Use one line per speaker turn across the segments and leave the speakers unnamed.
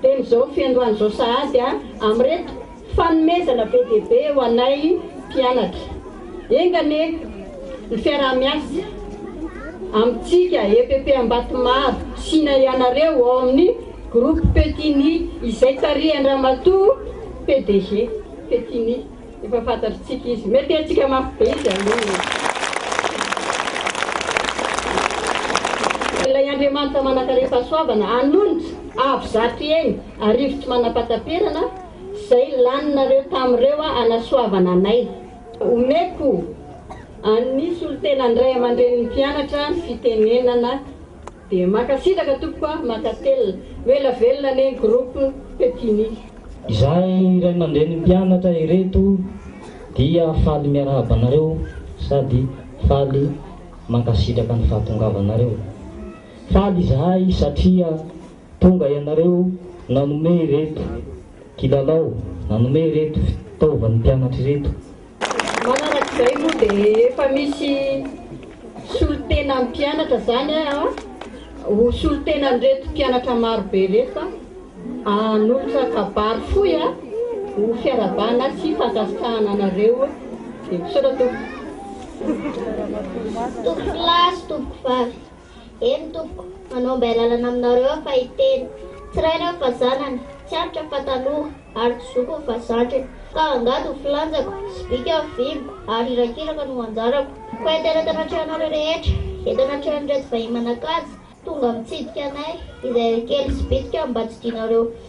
Dia amin'izao fiandohan' izao sahady a, amin'ireto fanomezana be dia be ho anay mpianatra. Enga anie ny fiaraha-miasa amintsika epp Ambatomaro sy na ianareo ao amin'ny Groupe Petit Niy izay tarihan-dRamatoa PDG Petit Niy. Efa fantatritsika izy. Ometena antsika mafy be izy aloha e. Ilay Andriamanitra manankarem-pahasoavana an'onitra avo zato heny arivo tsy manam-pahataperana izay laninareo tamin'ireo hanasoavana anay. Omeko an'ny solontenan'ny ray aman-drenin'ny mpianatra ny fitenenana. Dia mankasitraka tompoko a, mankatelina. Ho ela velona anie ny groupe Pepinique. Izahay
ray aman-drenin'ny mpianatra ireto dia faly miarahaba anareo sady faly mankasitraka ny fahatongavanareo. Faly izahay satria tonga ianareo nanome ireto kilalao, nanome ireto fitaovan'ny mpianatra ireto. Manarak'izay
moa dia efa misy solontenan'ny mpianatra zany a, ho solontenan'ireto mpianatra marobe ireto fa hanolotra kabary fohy a, ho fiarahabana sy fankasitrahana anareo e, misaotra tompoko.
Tompoko lahy sy tompoko vavy. Eny, tompoko, manomby alalana aminareo aho fa hiteny. Tsirairay fa zanany, tsy aritra fa tanora, ary tsy zokiny fa zandriny. Ka angady ho filanjako, sy bika ho vimbo, ary irakiraka no anjarako. Koa entana eto anatrehanareo rehetra, eto anatrehan'ireto vahiny manan-kaja tonga mitsidika anay, izay kely sy bitika mba tsidianareo.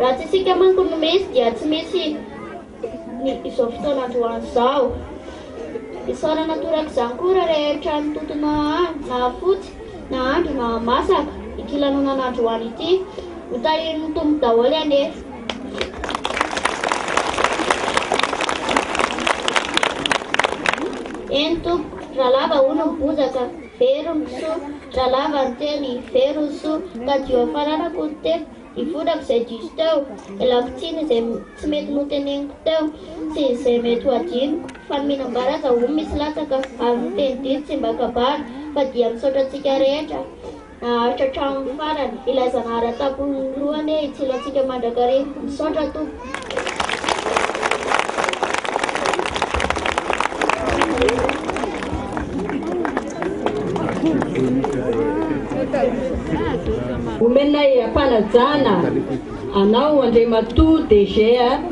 Raha tsy isika manko no misy dia tsy misy ny izao fotoana androany izao. Isaorana torak'izany koa ireo rehetra nitontona ahy nahafotsy, nahandro, nahamasaka ity lanonana androany ity. Notarihin'ny Tompo daholo anefa. Eny tompoko, raha lava hono ny bozaka, very ny kisoa, raha lava ny teny, very ny soa, ka diho hafaranako ny teko. Ivonako izay diso teo, ialako tsiny izay tsy mety noteneniko teo sy izay mety ho adinoko, fa ny mihinam-bary aza hono misy latsaka ary miteny diso tsy mba kabary fa dia misaotra antsika rehetra naharitra hatramin'ny farany, ilazana ara-tapon'ny loha anie i Tsilantsika mandrakariva, misaotra tompoko.
Omenay am-panajana anao Andriamatoa DG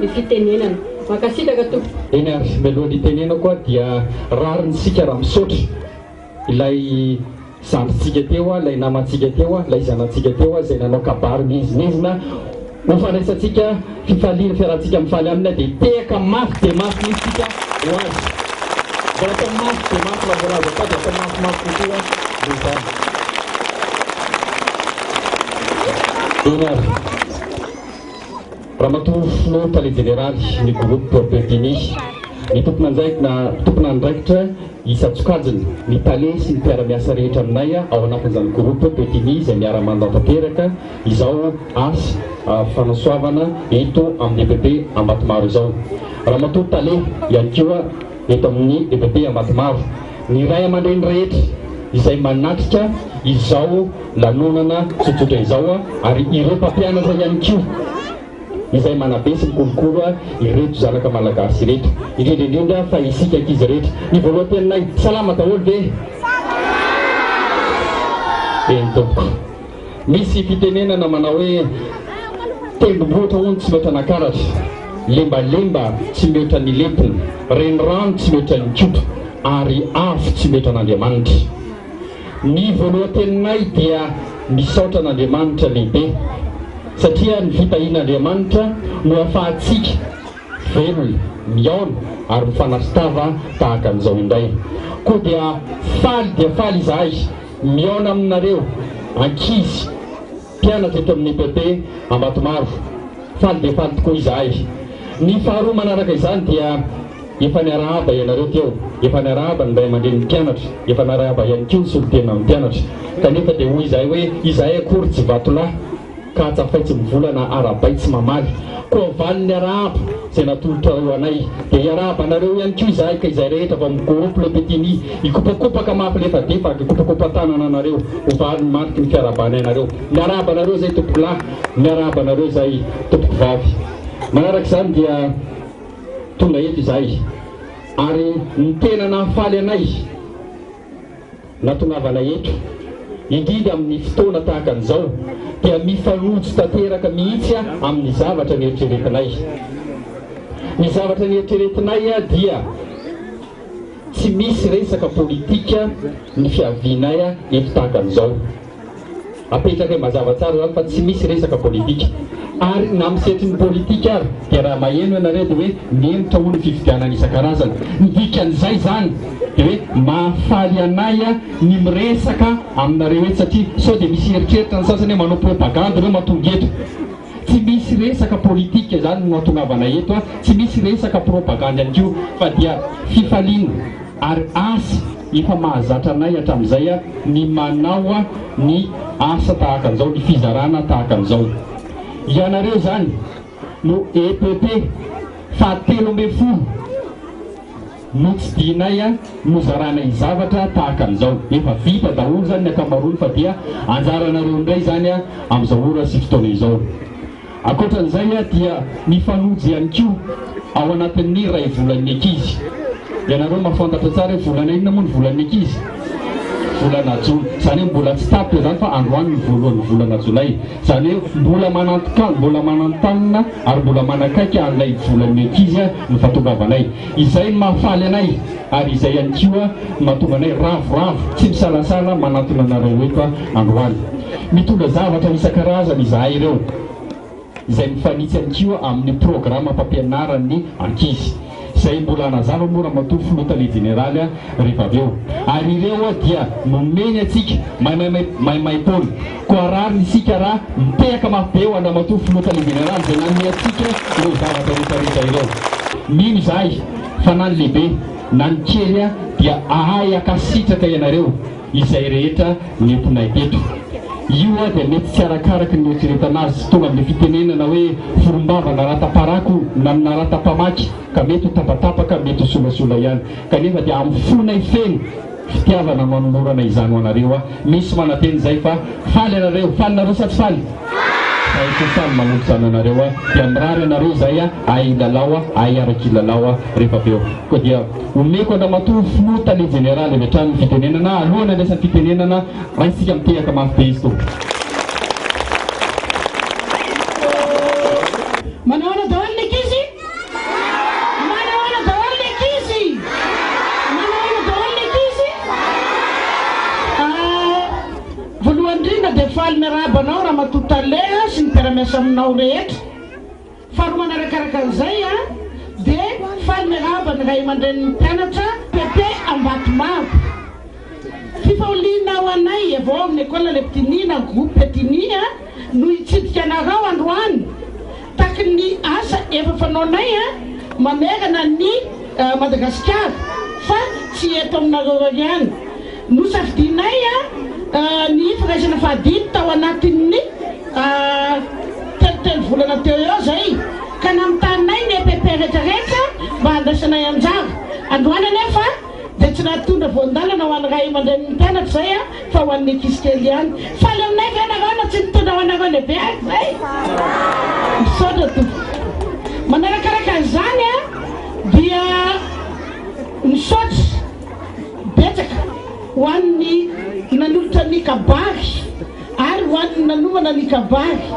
ny fitenenana. Mankasitraka tompoko. Eny ary mialoha ny
hitenenako dia rariny isika raha misaotra ilay zandrintsika teo a, ilay namantsika teo a, ilay zanatsika teo a, izay nanao kabary mihezinezina ho fandraisantsika fifaliana, fiarahantsika mifaly aminy a, dia tehaka mafy dia mafy mihitsy isika ho azy. Mbola atao mafy dia mafy raha voalaza atao dia atao mafy mafy kokoa noho izany. Eny ary. Ramatoa Filoha Tale Jeneraly ny Groupe Bedimi, ny tomponanjaikna tomponandraikitra isan-tsokajiny, ny Tale sy ny mpiara-miasa rehetra aminay ao anatin'izany Groupe Bedimi izay miara-mandantanteraka izao asa fanasoavana eto amin'ny EPP Ambatomaro izao. Ramatoa Tale ihany koa. eto amin'ny EPP Ambatomaro ny ray aman-dreny rehetra izay manatrika izao lanonana tsotsotra izao ary ireo mpampianatra ihany koa izay manabe sy mikolokolo ireto zanaka Malagasy ireto, indrindra indrindra fa isika ankizy rehetra. Ny voalohan-teninay, salama daholo ve? Eny tompoko. Misy fitenenana manao hoe tendrombohitra hono tsy mihoatra an'Akaratra, lembalemba tsy mihoatra ny letony, renirano tsy mihoatra ny koto, ary afo tsy mihoatra an'Andriamanitra. Ny voalohan-teninay dia misaotra an'Andriamanitra lehibe satria ny fitahian'Andriamanitra no afahantsika velona, mihaona ary mifanasitava tahaka an'izao indray. Koa dia faly dia faly izahay. Mihaona aminareo ankizy mpianatra eto amin'ny EPP Ambatomaro. Faly dia faly tokoa izahay. Ny faharoa manaraka izany dia efa niarahaba ianareo teo, efa niarahaba ny ray aman-drenin'ny mpianatra, efa niarahaba ihany koa ny solontenan'ny mpianatra. Kanefa dia hoy izahay hoe izahay akory tsy vatolahy. ka hajafaintsy ny volana arahabain tsy mamaly koa valiny arahaba izay natolotrareo anay dia hiarahaba anareo ihany koa izahay ka izay rehetra vao migroupe le petit ni hikopakopaka mafy lefadefaka hikopakopatanana anareo ho valiny mariky ny fiarahabanay anareo miarahaba anareo izay tompokolahy miarahaba anareo izay tompokovavy manaraka izany dia tonga eto izahay ary ny tena nahafaly anay Natongavana eto, indrindra amin'ny fotoana tahaka an'izao, dia mifanojo tanteraka mihitsy amin'ny zavatra nieritreretinay. Ny zavatra nieritreretinay dia tsy misy resaka politika ny fiavianay eto tahaka an'izao. Apetraka mazava tsara izany fa tsy misy resaka politika. Ary na amin'ny sehatrin'ny politika ary dia raha maheno ianareo dia hoe mihemotra hono ny fifidianana isan-karazany. Ny dikan'izay izany dia hoe mahafaly anay ny miresaka aminareo eto satria sao dia misy hieritreritra ny sasany hoe manao propagandy ireo mahatonga eto. Tsy misy resaka politika zany no atongavana eto a, tsy misy resaka propagandy ihany koa fa dia fifaliana ary asa efa mahazatra anay hatramin'izay a, ny manao a ny asa tahaka an'izao, ny fizarana tahaka an'izao. Ianareo zany no EPP fahatelo ambin'ny folo. no tsy tianay nozarana ny zavatra tahaka an'izao. Efa vita daholo izany ny ankamaroany fa dia anjaranareo indray izany amin'izao ora sy fotoana izao. Ankoatran'izay dia mifanojo ihany koa ao anatin'ny iray volan'ny ankizy. Ianareo mahafantatra tsara hoe volana inona moa ny volan'ny ankizy? volana jona izany hoe mbola tsy tapitra izany fa androany ny voalohan'ny volana jolay izany hoe mbola manantoka mbola manantanina ary mbola manakaiky an'ilay volan'ny ankizy ny fahatongavanay izay mahafaly anay ary izay ihany koa mahatonga anay ravoravo tsy misalasala manantona anareo eto androany mitondra zavatra isan-karazany izahay ireo izay mifanitsy ihany koa amin'ny programam-pampianaran'ny ankizy, izay mbola hanazava moa Ramatoa Filoha Tale Jeneraly rehefa avy eo. Ary ireo dia nomeny antsika maimaimpoana. Koa rariny isika raha mitehaka mafy be ho an-dRamatoa Filoha Tale Jeneraly izay nanome antsika ireo zavatra rehetrarehetra ireo. Mino izahay fa na ny lehibe na ny kely dia hahay hankasitraka ianareo. izay rehetra nentinay teto. Io aho dia mety tsy arakaraka ny noeritreretana azy sy tonga amin'ny fitenenana hoe volombava narata-parako na ny narata-pamaky ka mety ho tapatapaka, mety ho solasola ihany. Kanefa dia amin'ny fonay feno fitiavana no anolorana izany ho anareo aho. Misy manantena izay fa faly ianareo. Faly nareo sa tsy faly? Zahay koa faly manompo izany anareo aho. Dia mirary anareo izay aho hilalao, ahy hiara-kilalao aho rehefa avy eo. Koa dia. Omeko Andriamatoa ho Filoha Tale Jeneraly avy hatrany ny fitenenana alohan'ny handraisany fitenenana mba isika mitehaka mafy be izy Tompo.
Manahoana daholo ny ankizy? Manahoana daholo ny ankizy? Manahoana daholo ny ankizy? Voalohany indrindra dia faly miarahaba anao Ramatoa Tale sy ny mpiara-miasa aminao rehetra. Faharoa manarakaraka an'izay dia faly miarahaba ny ray aman-drenin'ny mpianatra. PP Ambatomavo, Fifaliana ho anay avy ao amin'ny Ecole Leptini na Groupe Petini no hitsidika anarao androany takin' ny asa efa fanaonay mamerana an'i Madagasikara fa tsy eto aminareo irery ihany. Nosafidianay ny firaisana fahadimy tao anatin'ny telotelo volana teo eo izay, ka namitaninay ny epp rehetra rehetra mba handraisanay anjara. Androany anefa dia tsy nahatondra voandalana ho an'ny ray aman-drenin'ny mpianatra izay fa ho an'ny ankizy kely ihany. Faly aminay ve ianareo na tsy nitondra ho anareo lehibe ary izay? Misaotra Tompoko. Manarakaraka an'izany dia misaotra. Betsaka ho an'ny nanolotra ny kabary ary ho an'ny nanomana ny kabary.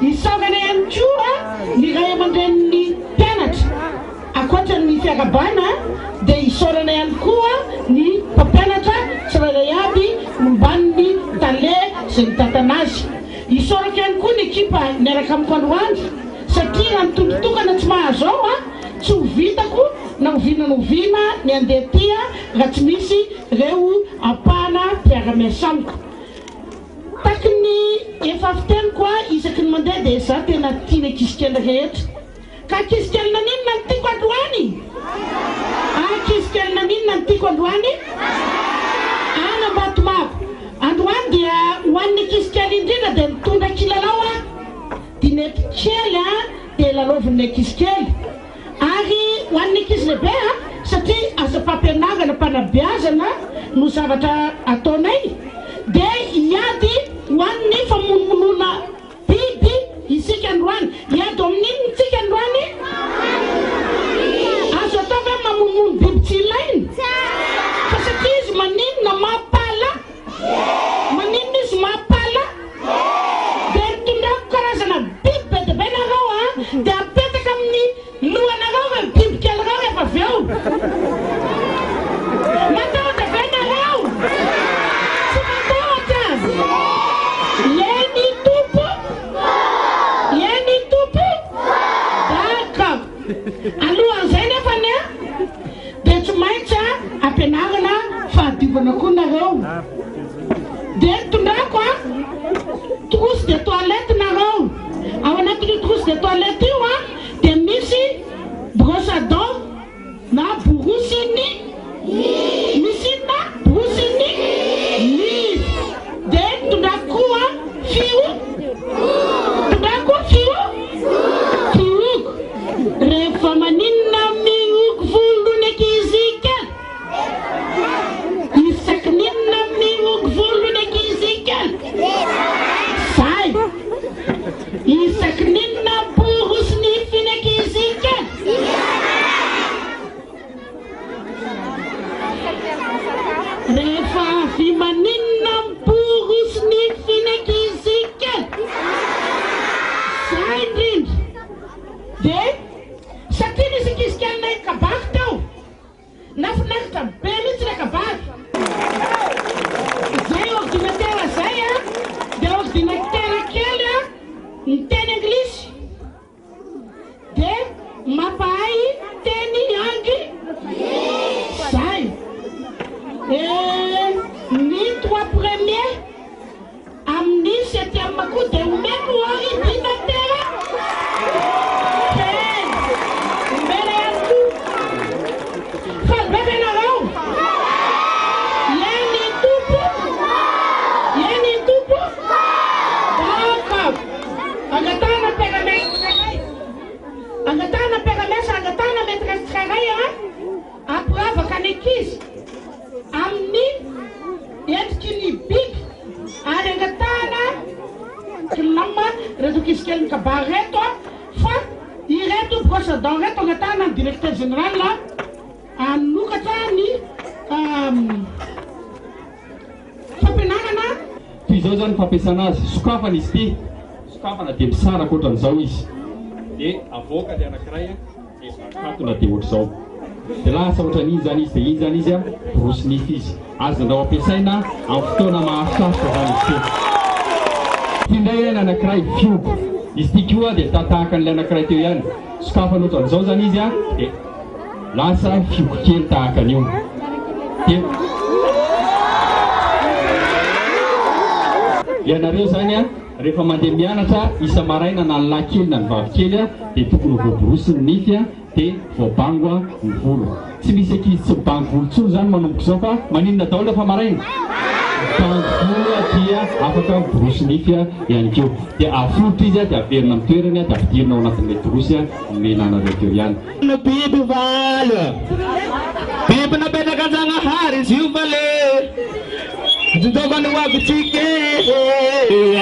Isaorana ihany koa ny ray aman-drenin'ny mpianatra.
Ankoatran'ny fiarahabana dia isaorana ihany koa ny mpampianatra tsirairay avy omban'ny tale izay mitantana azy. Isaorako ihany koa ny ekipa miaraka amin'i Fanoandro satria raha ny tondro tokana tsy mahazo aho a! tsy ho vitako na oviana na oviana ny handeha aty raha tsy misy ireo ampahana mpiara-miasa amiko. Taky ny efa fiteniko isaky ny mandeha dia za tena tia ny ankizy kely rehetra. Ka ankizy kely naninona no tiako androany? A, ankizy kely naninona no tiako androany? A, an'Ambatomavo. Androany dia ho an'ny ankizy kely indrindra dia nitondra kilalao aho. Dinety kely an! dia lalaovin'ny ankizy kely ary ho an'ny ankizy lehibe satria asam-pampianarana am-panabeazana no zavatra ataonay dia hiady ho an'ny famonomonoana biby isika androany. Hiady ho amin'inona isika androany? Azo atao ve ny mamonomono biby tsy ilaina? Fa satria izy maninona? Mampala. Maninona izy mampala? Dia ry tondrako karazana biby be dia be nareo a! Dia apetaka amin'ny lohanareo ireo bibikely ireo rehefa avy eo. Matahotra ve nareo? Tsy matahotra azy. Ie ny Tompo! Ie ny Tompo! D'accord. Alohan'izay nefany a, Dia tsy maintsy ampianarina fahadiovana koa nareo. Dia tondrako a trousse de toilette nareo. Ao anatin'io trousse de toilette io a dia misy brosse à dents na borosin'ny misy inona? Borosin'ny nify. Dia tondrako koa fio Tondrako koa fio Fioko Rehefa maninona mioko volo ny ankizy kely Isaky ninona mioko volo ny ankizy kely Zay Isaky ninona borosy nify ny ankizy kely Rehefa avy maninona miborosy nifiny aky isika zay indrindra de satria nisy ankizikelinain'ny kabary tao nafinaritra be mihitsy le kabary zay ordinatera zay a de ordinatera kely a miteny anglisy Dia mampahay teny angy zay eh! Ny trois premiers amin'ny septième koa dia omeko ordinateur kely omena ihany koa. Faly be ve nareo? Ieny Tompo? Ieny Tompo? D'accord. Angatahana père maître tsirairay Angatahana père maître Angatahana maîtresse tsirairay a Hampiravaka ny ankizy Amin'ny endriky ny biby Ary angatahana Kmama Ireto ankizy kely mikabary ireto a Fa ireto brosse à dents ireto Angatahana ny directeur général a Hanokatra ny Fampianarana. Toy
izao izany ny fampiasana azy. Sokafana izy ity. Sokafana dia misaraka ohatran'izao izy. Dia avoaka ilay anankiray dia akatona dia ohatr'izao. Dia lasa ohatran'iny izany izy. Dia iny izany izy borosy nify izy. Azonao ampiasaina amin'ny fotoana mahatratra izany izy ity. Ity indray ilay anankiray fihogo. Izy ity koa dia tahaka an'ilay anankiray teo ihany. Sokafana ohatran'izao izany izy dia. Lasa fihogo kely tahaka an'io. Teo. Ianareo izany a, rehefa mandeha mianatra isa-maraina na ny lahy kely na ny vavy kely a, dia tokony ho voaborosy ny nify a, dia voabango a, ny volo. Tsy misy ankizy tsy mibango volo intsony izany manomboka izao fa maninona daholo rehefa maraina? Mibango volo a, dia afaka miborosy nify a, ihany koa. Dia aforitra izy a, dia averina amin'ny toerany a, dia ampidirina ao anatin'ilay borosy a. Omena anareo teo ihany. Ny biby
valy a! Biby napetraka Njagnahary izy io valy e! Jonjovany ho avy tsika e!